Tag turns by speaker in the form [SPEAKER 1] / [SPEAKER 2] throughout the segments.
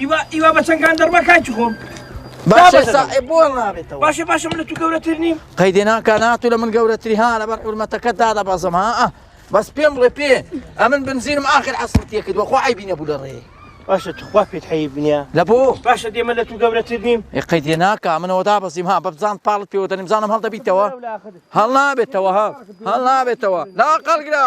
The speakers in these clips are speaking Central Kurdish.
[SPEAKER 1] ئیوە ئیوە بە چەنگان دەڕما کاکی
[SPEAKER 2] خۆم باشە سائێ بۆ نابێتەوە باشە باشە من لە تو
[SPEAKER 1] گەورەتر نیم قەیدێناکە ناتو
[SPEAKER 2] لە من گەورەتری ها لەبەر حورمەتەکە دا دەبەزم ها بەس پێم بڵێ پێ ئەمن بنزینم ئاخر عسرتیە کرد وەخوا ئەی بینە بوو لە ڕێ باشە تخوا پێت
[SPEAKER 1] حەیب نییە لە بۆ باشە دێمە
[SPEAKER 2] لە تو
[SPEAKER 1] گەورەتر نیم قەیدێ ناکە منەوە
[SPEAKER 2] دا بەسیم ها بەبزان پاڵت پێوە دەنیمزانم هەڵدەبیتەوە هەڵ نابێتەوە ها هەڵ نابێتەوە لا قەڵگرا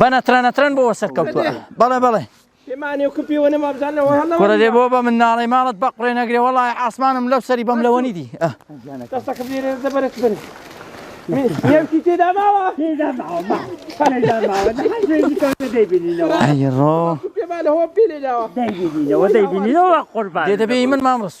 [SPEAKER 2] بە نەترە نەترەن بۆ سەرکەوتوە بەڵێ بەڵێ
[SPEAKER 1] کوڕە دێ بۆ بە
[SPEAKER 2] مناڵی ماڵت بە قڕێ نەگرێ وڵی ئاسمانم لەو سەری بەم لەوەنی
[SPEAKER 1] دی
[SPEAKER 3] دەبێ من مامڕست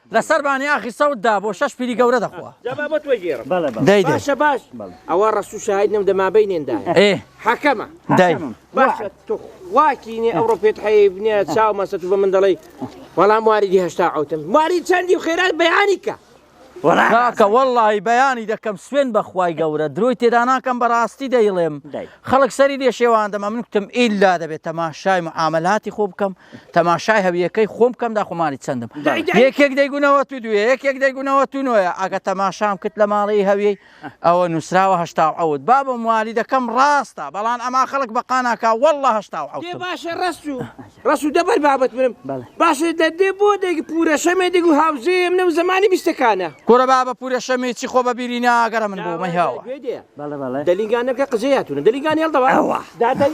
[SPEAKER 2] لە سەر بانیاخی سەوت دا بۆ شەش پیری گەورە دەخوا. جا با بۆ تۆی گێڕم. بەڵێ
[SPEAKER 1] بەڵێ. دەی دەی. باشە باش
[SPEAKER 2] ئەوە
[SPEAKER 1] ڕەسوو شاهید نەم دە مابەینێن دایە. ئێ. حەکەمە. دەی. حەکەمم. باشە تۆ خوا کینی ئەوڕۆ پێت حەیف نیە چاو مەستە تو بە من دەڵێی وەڵا موالیدی هەشتا عەوتم موالید چەندی و خێرات بەیانی کە. وەڵا کاکە ڕاستە.
[SPEAKER 2] وەڵڵاهی بەیانی دەکەم سوێن بە خوای گەورە درۆی تێدا ناکەم بەڕاستی دەیڵێم دەی. خەڵک سەری لێ شێواندم ئەمن کوتم ئیلا دەبێ تەماشای معامەلاتی خۆ بکەم تەماشای هەویەکەی خۆم بکەم دا خۆمانی چەندم یەکێک دەیگونەوە تو دوێ یەکێک دەیگونەوە تو نوۆە ئەگە تەماشام کرد لە ماڵی هەویی ئەوە نووسراوە هشتا ئەوت بابە موالی دەکەم ڕاستە بەڵام ئەما خەڵک بەقاناکە وەله هشتا باشە ڕست و
[SPEAKER 1] ڕست و دەبەر بابەت برم باشە دەدێ بۆ دەگە پورە شەمێ دەگو هاوزێم نەو زمانی بیستەکانە کورە بابە پورە
[SPEAKER 2] شەمێ چی خۆ بە بیری ناگەرە من بۆ مەهاوە
[SPEAKER 1] دەلیگانەکە قزەیاتونە
[SPEAKER 2] دەلیگان
[SPEAKER 1] هێڵدەوە دادەی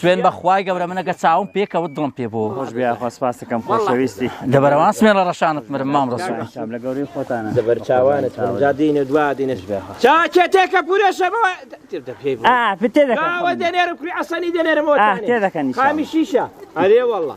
[SPEAKER 2] سوێن بە خوای گەورە منە کە چاوم پێکەوت دڵم پێ بوو خۆش بیا خۆ سپاسەکەم
[SPEAKER 3] خۆشەویستی دەبەرەوان سوێن لە
[SPEAKER 2] ڕەشانت مرم مام ڕەسوڵ لە گەوری خۆتانە
[SPEAKER 3] زەبەر چاوانت
[SPEAKER 1] من جا دینە دوا دینش بیا چاکێ تێکە پورە شەبەوە تێبدە پێی بوو ئا پتێ دەکەم
[SPEAKER 3] ئەوە دەنێرم
[SPEAKER 1] کوڕی عەسەنی دەنێرم ئەوە تێ دەکەنی خامی
[SPEAKER 3] شیشە
[SPEAKER 1] ئەرێ واللە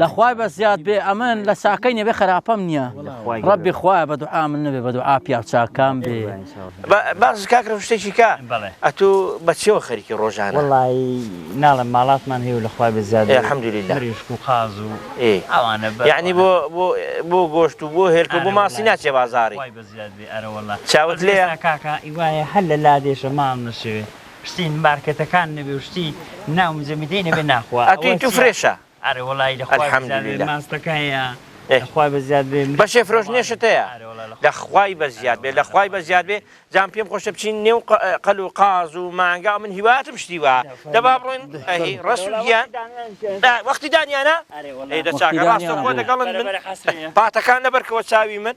[SPEAKER 2] لە خوای بە زیاد بێ ئەمن لە چاکەی نەبێ خراپەم نییە ڕەبی خوایە بە دوعا من نەبێ بە دوعا پیا و چاکان بێ باز
[SPEAKER 1] کاکرم شتێکی کا ئەتو بەچەوە خەریکی ڕۆژان وڵی
[SPEAKER 3] ناڵم ماڵاتمان هەیە لە خوای بە زیاد حمدلی لەریشک و
[SPEAKER 1] قاز و
[SPEAKER 3] ئەوانە
[SPEAKER 1] یعنی بۆ بۆ گۆشت و بۆ هێلکە بۆ ماسی ناچێ بازاری
[SPEAKER 3] چاوت لێ کاکە
[SPEAKER 1] ئیوایە هەر
[SPEAKER 3] لە لادێشە ماڵ نەشەوێ شتی مارکێتەکان نەبێ و شتی ناو مزەمیدەی نەبێ ناخوا ئەکلی تو فرێشە
[SPEAKER 1] ئەرێ وەڵایی لە خوای
[SPEAKER 3] بە زیاد بێ
[SPEAKER 1] ماستەکە هەیە
[SPEAKER 3] لە خوای بە زیاد بێ بەشێ فرۆشنێشت هەیە
[SPEAKER 1] لە خوای بە زیاد بێ لە خوای بە زیاد بێ جام پێم خۆشە بچین نێو قەل و قاز و مانگا من هیواتم شتی وا دەبا بڕۆین ئەهی ڕەس و گیان وەختی دانیانە ئەی دە چاکە ڕاستە خۆ دەگەڵن من پاتەکان لەبەرکەوە چاوی من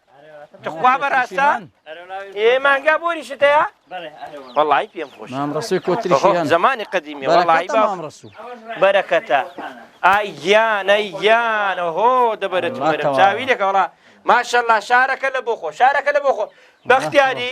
[SPEAKER 1] تخوا بەڕاستە ئێ مانگا بۆری شتەیە وڵی پێم خۆش مامڕسوی کۆتری
[SPEAKER 2] زمانی قدیمی
[SPEAKER 1] وڵی بامڕسو بەرەکەتە ئای گیان ئەی گیانە هۆ دەبەرێت چاوی لەکەڵا ماشەللا شارەکە لە بۆ خۆ شارەکە لە بۆ خۆ بەختیاری